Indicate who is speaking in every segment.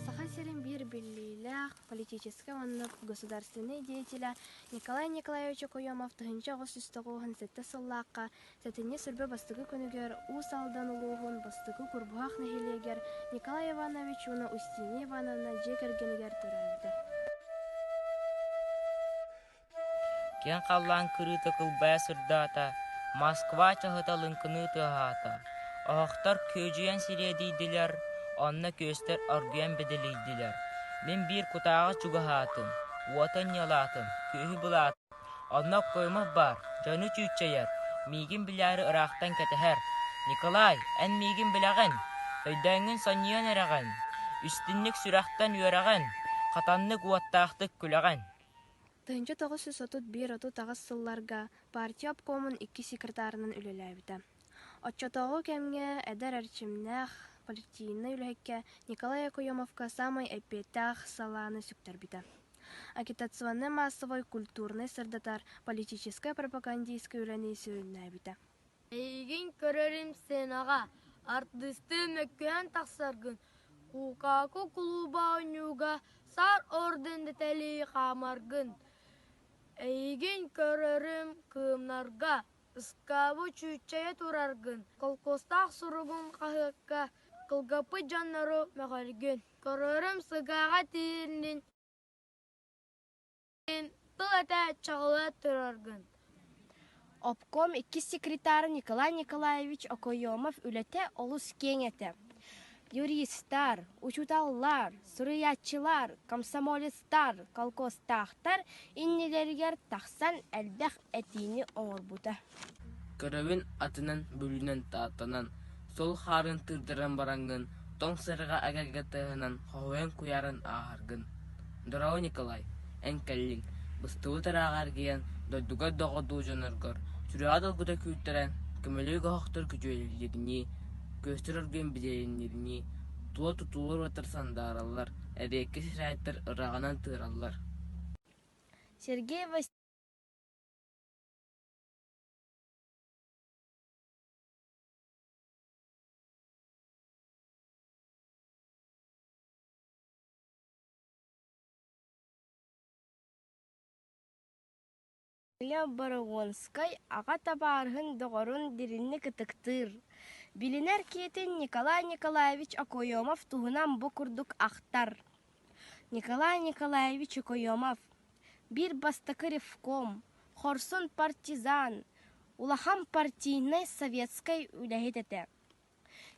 Speaker 1: Саха сирин биир биллиилээх политическай уонна государственнай деятеля Николай Николаевич Окоемов тыһыынча оҕус үс тоҕуһун сэттэ сыллаахха сэтинньи сүрбэ бастакы күнүгэр Уус Алдан улууһун бастакы Курбуһах нэһилиэгэр Николай Иванович уонна Устиния Ивановна дьиэ кэргэнигэр төрөөбүтэ.
Speaker 2: киэҥ халлаан кырыыта кылбайа сырдаата, Москва чаһыта лыҥкыныы тыаһаата, оһохтор күөдьүйэн сириэдийдилэр, онно күөстэр оргуйан бэдэлийдилэр. Мин биир кутааҕы чугаһаатым, уоту анньалаатым, күөһү былаатым. Онно Оккоемов баар, дьону чүүччэйэр, миигин билээри ыраахтан кэтэһэр. «Николай, эн миигин билэҕин? Өйдөөҥҥүн сонньуйан эрэҕин, истинник сүрэхтэн үөрэҕин, хатаннык уоттаахтык күлэҕин» Тыһыынча
Speaker 1: тоҕус сүүс отут биир отут аҕыс сылларга партия обкомун икки секретарынан үлэлээбитэ. Оччотооҕу кэмҥэ эдэр эрчимнээх политийнай үлэһиккэ Николай Якуемовка саамай эппиэттээх салааны сүктэрбитэ. Агитационнай-маассабай культурнай сырдатар, политическай пропагандистскай үлэни сүрүннээбитэ. Эйигин
Speaker 3: көрөрүм сценаҕа артыыстыы мөккүһэн тахсаргын Кукаку кулууба оонньууга Сар орден тэтэлии хаамаргын Эйигин көрөрүм кыымнарга Ыскаабы чүүччэйэ тураргын Холкуостаах суругун хаһыакка Кылгаппыт дьоннору мөҕөргүн Көрөрүм сыгааҕа тиийиннин тыл этэ чоҕула тураргын
Speaker 4: Обком иккис секретара Николай Николаевич Окоемов үлэтэ олус киэҥ этэ. Юристар, учууталлар, суруйааччылар, комсомолецтар, колхозтаахтар иннилэригэр тахсан элбэх этиини оҥорбута. Көрөбүн
Speaker 2: атынан, бүлүүнэн тааттанан, сол хаарын тыырдаран бараҥҥын, тоҥ сырыга эгэлгэ тыаһынан хоһуйан куйааран ааһаргын. Дороо Николай, эн кэллиҥ, быстыбыт ырааҕа эргийэн, дойдугар доҕордуу дьоноргор, сүрэҕэ долгута күүттэрэн, көмөлүү көһөхтөр күдьүөлииринии, күөстэр оргуйан билиэринниринии, туо тутуулар уотар сандаараллар, эриэккэ сирэйдэр ыраҕынан тыыраллар.
Speaker 4: Сергей Васильевич Лео Борогонскай аҕа табаарыһын доҕорун дириҥник ытыктыыр, билинэр киһитин Николай Николаевич Окоемов туһунан бу курдук ахтар. Николай Николаевич Окоемов Биир бастакы ревком, хорсун партизан, улахан партийнай советскай үлэһит этэ.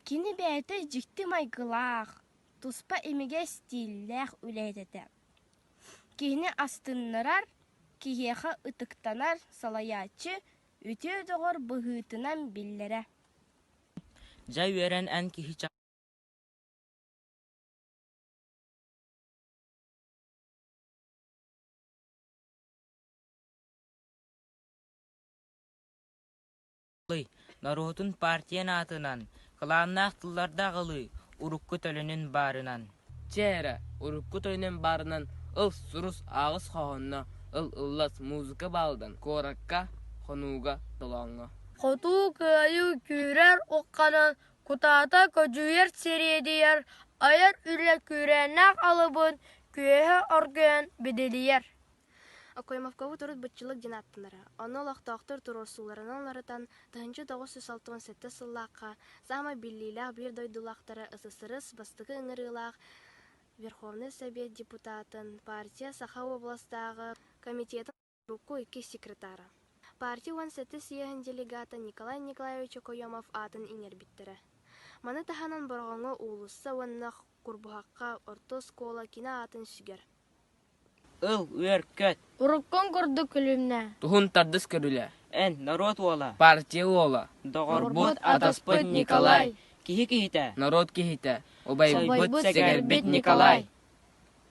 Speaker 4: Кини бэйэтэ дьикти майгылаах, туспа имигэс стиллээх үлэһит этэ. Киһини астыннарар, киһиэхэ ытыктанар салайааччы үтүө доҕор быһыытынан биллэрэ.
Speaker 2: Дьэ үөрэн эн киһи ча Норуотун партиyan аатынан, кылааннаах тыллардаах ылыы урукку төлөнүн баарынан. Чэ эрэ, урукку төлөнүн баарынан ыл сурус аҕыс хоһоонно ыл ыллас музыка баалдан куоракка, хонууга, толооҥҥо. Хотуу
Speaker 3: кыайыы күүрэр укканан Кутаата көдьүүр сириэдийэр, айар үлэ күүрээннээх алыбын, күөһэ оргуйан бидилийэр Акуймовкову
Speaker 1: төрүт быччылык диэн ааттанара. Ону олохтоохтор туруорсууларынан уларытан, тыһыынча тоҕус сүүс алтыһын сэттэ сыллаахха саамай биллиилээх биир дойдулаахтара ССРС бастакы ыҥырыылаах Верховнай Совет депутатын, партия Саха областааҕы комитетын Урукку иккис секретара. Партия уон сэттэ съеһын делегата Николай Николаевич Окоемов аатын иҥэрбиттэрэ. Маны таһынан Бороҕоҥҥо уулусса уонна Курбуһахха орто оскуола кини аатын сүгэр. Ыл,
Speaker 2: үөркэт! Уруккуҥ курдук
Speaker 3: күлүмнэ. Туһун тардыс
Speaker 2: көрүлэ. Эн, норуот уола. Партия уола. Доҕорбут, атаспыт Николай. Киһи киһитэ. Норуот киһитэ. Убайбыт, сэгэрбит Николай.